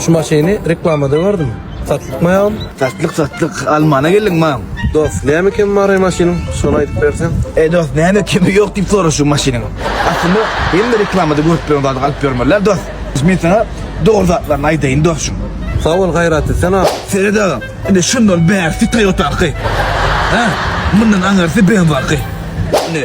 Şu maşyny reklamada gördüm. Satlyk-ma ýagny? Satlyk, satlyk. Almana geldim, mam. Dost, näme kemi bar-aý maşynyň? Şony aýdyp berseň. Eý, dost, näme kemi ýok diýip soraş şu maşynyň. Aslynda, hemme reklamada görüp ýören zadyňy alyp ýörmeli-ä, dost. Men saňa dogry zatlaryny aýdaýyn, dostjum. Sag bol, Gaýratly, sen ak. Seret agam, indi şundan bärisi Toyota'ňky. Hä, mundan aňyrysy BMW-ňky. Indi.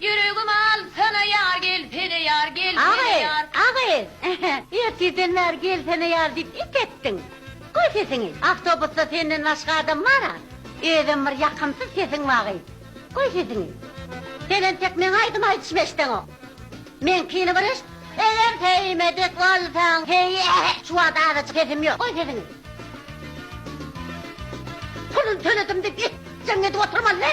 Ýüregim al, sana ýar gel, sene ýar gel, sene ýar. Agy, agy, ertirden bäri gel sene ýar diýip it etdiň. Goý sesiňi, awtobusda senden başga adam bar-a. Özem bir ýakymsyz sesiň bagy. Goý sesiňi. Sen entek meň aýdym aýdyşymy eşideňok. Meňkini bir eşit. Eger söýmedik bolsaň söý, ähä, şu wagt azajyk sesim ýok. Goý sesiňi. Puluny töledim diýip it jeňňedip oturmaly.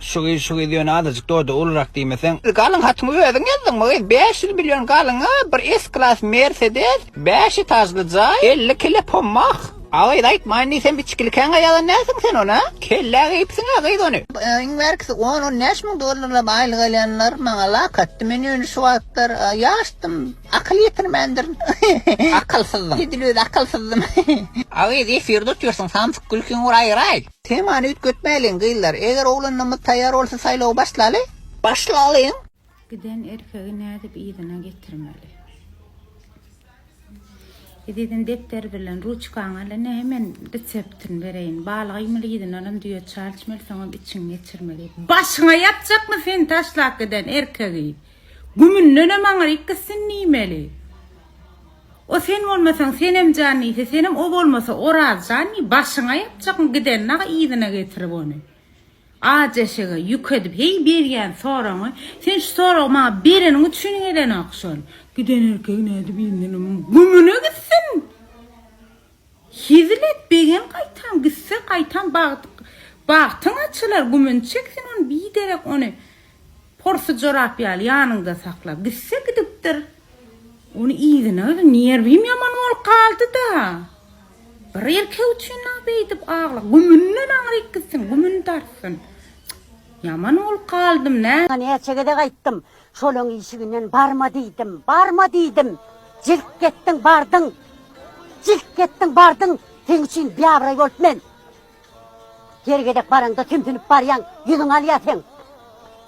Şu gyz şu gyz ýöne azajyk doda ulurak diýmeseň. Galyň hatyňy özüň ýazdyňmy gyz bäş ýüz million galyňa bir s klass mersedes bäş etažly jaý elli kile pommak. A gyz aýtmaýyn diýsem içgilikäňä ýazan näsiň sen ony kellä geýipsiňä gyz ony. Iň bärkisi on on bäş müň dollarlap aýlyk alýanlar maňa lak atdy men ýöne şu wagtlar ýaşdym akyl ýetirmändirin akylsyzdyň edil özi akylsyzdym. A gyz efir tutýarsyň samsyk gülkiň uraýraý. Temany üýtgetmäliň gyzlar. Eger oglanlarymyz taýýar bolsa saýlawy başlaly. Başlalyň. Giden erkegi nädip yzyna getirmeli. Ezizim depder bilen ruçkaňy al ene men reseptini bereýin. Bal gaýmaly yzyna alam düýe çal içmeli soňam içiňi geçirmeli. Başyňa ýapjakmy sen taşlap giden erkegi. Gümündenem aňryk gitsin diýmeli. O sen bolmasaň Senem jan diýse, Senem o bolmasa Oraz jan diýip başyňa ýapjakmy giden dagy yzyna getirip ony. Aç eşege ýük edip heý berýän soragyňy, sen şu soragy maňa bereniň üçin edenok şony. Giden erkek nädip indini gümüne gitsin. Hezil et, begem gaýtam gitse, gaýtam bagtyň açylar, gümüni çek sen ony, biderek ony porsy jorap ýaly ýanyňda saklap gitse, gidipdir. Ony yzyna özüm nerwim ýaman bolup galdy-da. Bir erkek üçin-a beýdip agla, gümünden aňryk gitsin, gümüni dartsyn. Ýaman bolup galdym, nä. Näçe gezek aýtdym. Şolaň işiginden barma diýdim, barma diýdim. Jilk etdiň, bardyň. Jilk etdiň, bardyň. Seň üçin biabraý bolup men. Her gezek baraňda tümsünip barýaň, ýüzüňi alýa seň.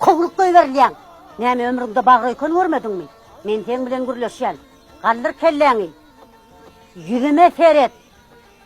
Kowluk goýberilýäň. Näme ömrüňde bagraýkon görmediňmi? Men seň bilen gürleşýän. Galdyr kelläňi. Ýüzüme seret.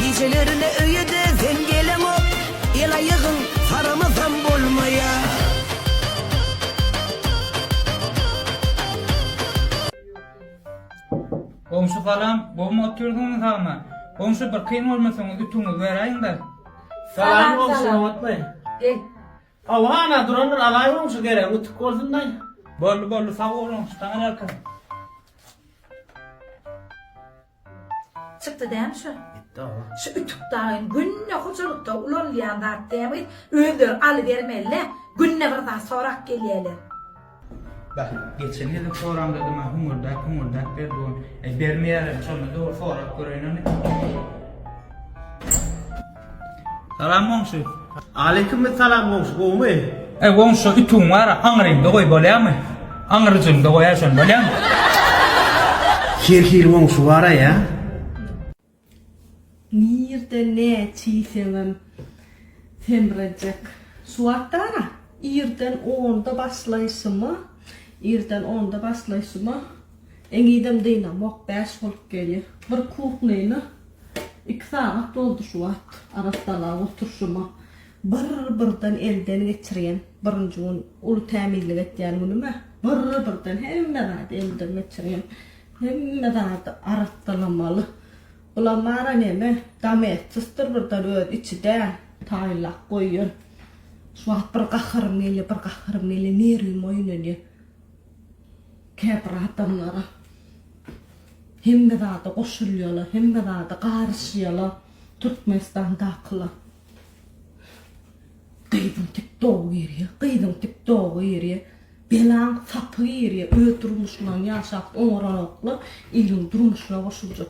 Gijelerine öýe-de sen geleňok, El-aýagyň saramasam bolmaýar. Goňşy salam, gowmy otyrsyňyz hama? Goňşy bir kyn bolmasaňyz ütüňizi beräýiňdä. Salam goňşy nobatmy? Gel. Hawa hana durandyr alaý goňşy geregiň ütük bolsundaý. Boldy boldy sag bol goňşy saňa bereket. Çykdy dämi şu? Gitdi agam. Şu ütük dagyn günde hojalykda ulanylýan zat dämi gyz, özleri alybermelilä, günde bir zat sorap gelýäler. Bak, geçen gezek soramda da maňa hüňürdäp hüňürdäp ber dogan, äý bermeýärem, şonda dogry sorap göreýin ony. Salam goňşy. Aleyküm salam goňşy gowmy. Eý goňşy şo ütügiň bara aňryňda goý bolýamy? Aňryjyňda goýa şony bolýamy? Her hili goňşy bara ýa. Nirde ne çiýseňem semrejek. Şu wagtdana irden onda başlaýşyma irden onda başlaýşyma. Eňidem dynamok bäş bolup gelýär. Bir kuhnyny iki sagat boldy şu wagt arassalap oturşyma. Bir birden elden geçirýän birinji gün uly tämizlik etýän günüme bir birden hemme zady elden geçirýän. Hemme zady arassalamaly. Bulam bara neme domestosdyr birden öz içi däl taýynlap goýýan. Şu wagt bir gaharym gelýär bir gaharym gelýär nerwim oýnanýar. Käbir adamlar hemme zada goşulýarlar, hemme zada garyşýarlar, Türkmenistandakylar. Gyzyň tiktogy girýär, gyzyň tiktogy girýär. Belaň sapy girýär, öz durmuşlaryny ýaşap oňaranoklar, iriň durmuşyna goşuljak.